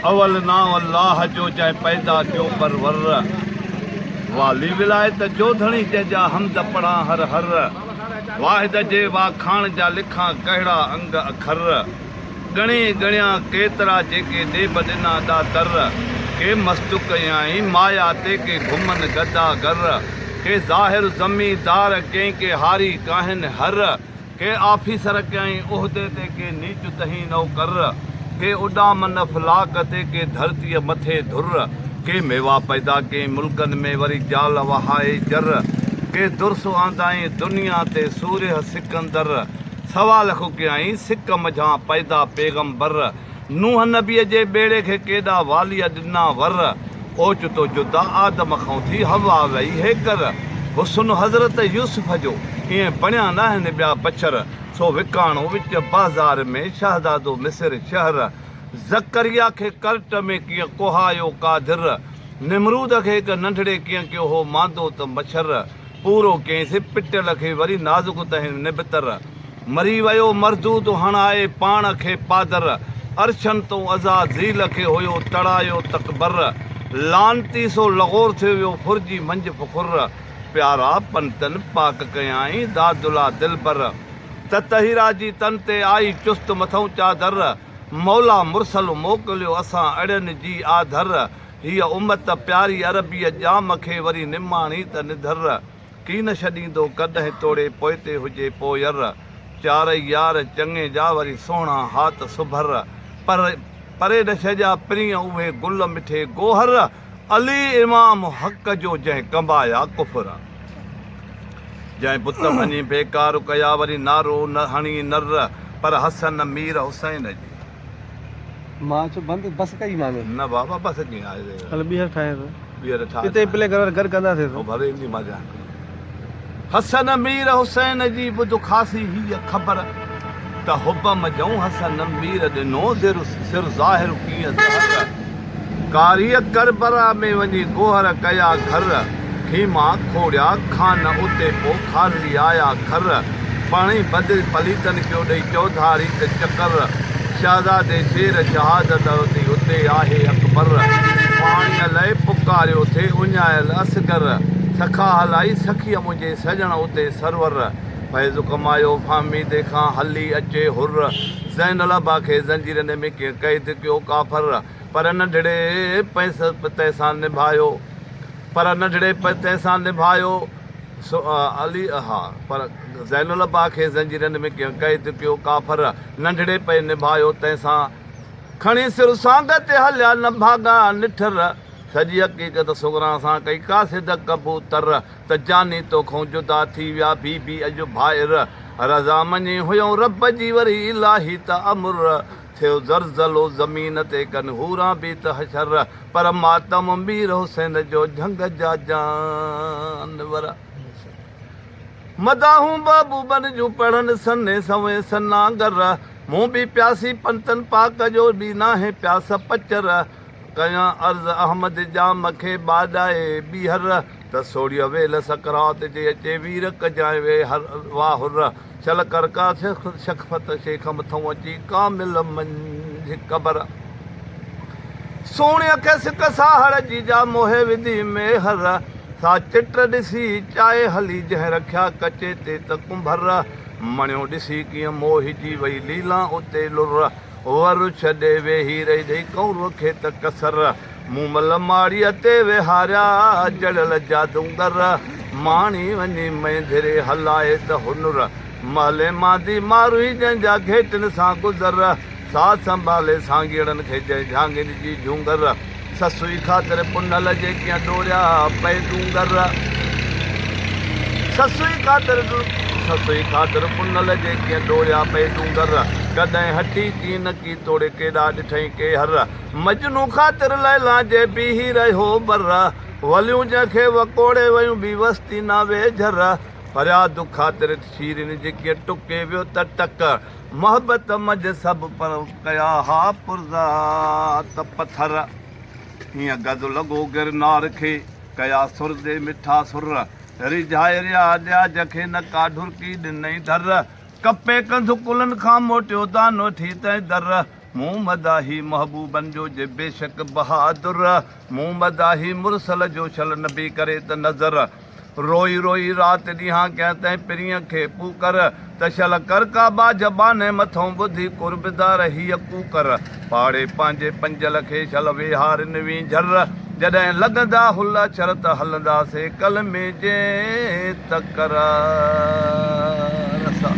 اول نانء الله جو جنهن پيدا ڪيو پرور والي ولايت جو ڌڻي جنهن جا حمد پڙهان هر هر واحد جي واکاڻ جا لکان ڪهڙا انگ اکر ڳڻي ڳڻيان ڪيترا جيڪي ڏيب ڏنا ڏاتر ڪي مستو ڪيائين مايا تي ڪي گهمن گدا گر ڪي ظاهر زمين دار ڪئين ڪي هاري ڪاهن هر ڪي آفيسر ڪئين عهدي تي ڪي نيچ تهين نوڪر ڪي اڏام نه فلاڪ تي ڪي ڌرتيء مٿي ڌر ڪي ميوا پيدا ڪئين ملڪن ۾ وري جال وهائي جر ڪي درس آندائين دنيا تي سورهيه سڪندر سوا لک ڪيائين سڪ منجهان پيدا پيغمبر نوح نبيء جي ٻيڙي کي ڪيڏا واليء ڏنا ور، اوچتو جدا آدم کئون ٿي حوا وئي هيڪر، حسن حضرت يوسف جو ائين بڻيا ناهن ٻيا بڇر، سو وڪاڻو وچ بازار ۾ شهزادو مصر شهر، زڪريا کي ڪرٽ ۾ ڪيئن ڪوهايو قادر، نمرود کي هڪ ننڍڙي ڪيئن ڪيو هو ماندو ته مڇر، پورو ڪيس پٽيل کي وري نازڪ تهين نبتر. مري ويو مردود هڻائي پاڻ کي پادر. عرشن تون عزازيل کي هيو تڙايو تڪبر. لعنتي سو لغور ٿيو ويو ڦرجي منجهه فخر. پيارا پنتن پاڪ ڪيائين دادلا دلبر. ته طهيرا جي تن تي آئي چست مٿئون چادر. مولا مرسل موڪليو اسان اڙين جي آڌر. هيء امت پياري عربيء ڄام کي وري نماڻي ته نڌر ڪي نه ڇڏيندو ڪڏهن توڙي پوئتي هجي پوئير چارئي يار چڱي جا وري سهڻا ها ته سڀر پر پري نه ڇڏيا پرينء اهي گل مٺي گوهر علي امام حق جو جنهن ڪنبايا ڪفر جنهن بت ڀڃي بيڪار ڪيا وري نعرو نه هڻي نر پر حسن مير حسين جي. مان چيو بند بس ڪئي مان ۾. نه بابا بس ڪيئن آهي ري. هل ٻيهر ٺاهيان ٿو. ٻيهر ٺاهه. اتي پلي گهر گهر ڪندا ٿي ٿو. ڀلي ايندي مان جان ڪري. حسن مير حسين جي ٻڌ خاصي هيء خبر ته حبم جئون حسن مير ڏنو زر سر ظاهر ڪيئن زهر. ڪاريء ڪربلا ۾ وڃي ڪوهر ڪيا گهر، خيما کوڙيا کان اتي پو کارلي آيا کر، پاڻهي بدل پليتن ڪيو ڏئي چوڌاري ته چڪر، شهزادي شير شهادت ورتي اتي آهي اڪبر، پاڻيء لئه پڪاريو ٿي اڃايل اصغر، سخا هلائي سخيء منهنجي سڄڻ اتي سرور. فيض ڪمايو فهميدي کان هلي اچي حر زين الابا کي زنجيرن ۾ ڪيئن قيد ڪيو ڪافر پر ننڍڙي پتي سان نڀايو پر ننڍڙي پتي سان نڀايو سو علي اها پر زين الابا کي زنجيرن ۾ ڪيئن قيد ڪيو ڪافر ننڍڙي پئي نڀايو تنهن سان کڻي سر سانگهه تي هليا نڀاڳا نٺر سڄي حقيقت سغرا سان ڪئي قاصد ڪبوتر ته جاني توکون جدا ٿي ويا بي بي اڄ ڀائر رضا مڃي هيون رب جي وري الاهي ته امر ٿيو زرزلو زمين تي ڪن حوران بي ته حشر پر ماتم مير حسين جو جهنگ جا جانور مداحون محبوبن جون پڙهن سني سوين سناگر مون بي پياسي پنتن پاڪ جو بي ناهي پياس پچر. ڪيان عرض احمد ڄام کي ٻاڏائي ٻيهر ته سوڙهيء ويل سڪرات جي اچي وير ڪجانء وي هر واهه هر شل ڪر ڪا شخفت شيخ مٿئون اچي ڪامل منجهه قبر سوڻيء کي سڪ ساهڙ جي جا موهي وڌي ميهر سا چٽ ڏسي چائي هلي جنهن رکيا ڪچي تي ته ڪنڀر مڻيو ڏسي ڪيئن موهجي وئي ليلان اتي لر هوء رڇ ڏي ويهي رهي ڏي ڪئون روکي ته ڪسر مون مل ماڙيء تي ويهاريا جڙيل جادوگر ماڻي وڃي مينڌري هلائي ته هنر محلي ماندي ماروئي جنهن جا گهيٽن سان گذر ساز سنڀالي سانگيئڙن کي جنهن جهانگين جي جهونگر سسئي خاطر پنهل جي ڪيئن ڏوريا پئي تون ڳر. سسئي خاطر سسئي خاطر پنهل جي ڪيئن ڏوريا پئي تون ڳر. ڪڏهن هٽي ڪين ڪي توڙي ڪيڏا ڏٺئين ڪي هر. مجنون خاطر ليلا جي بيهي رهيو بر. وليون جنهن کي وڪوڙي ويون بي وس ٿي ناوي جھر. فرياد خاطر شيرين جي ڪيئن ٽڪي ويو ته ٽڪ. محبت مج سڀ پر ڪيا ها پرزا ته پٿر هيئن گز لڳو گرنار کي ڪيا سر دي مٺا سر ريجهائي ريا ڏياج کي نه ڪا ڍرڪي ڏنئي ڍر ڪپي ڪنڌ ڪلن کان موٽيو دانو ٺيتئي در مون مداحي محبوبن جو جي بيشڪ بهادر مون مداحي مرسل جو شل نبي ڪري ته نذر روئي روئي رات ڏينهان ڪيان تنهن پرينء کي پوڪر ته شل ڪر ڪا ٻاجهه ٻانهي مٿئون ٻڌي قرب دار هيء ڪوڪر پاڙي پنهنجي پنجل کي شل ويهار نوين جهر جڏهن لڳندا هل اڇر ته هلندا سي ڪل مين جي تڪرار سان.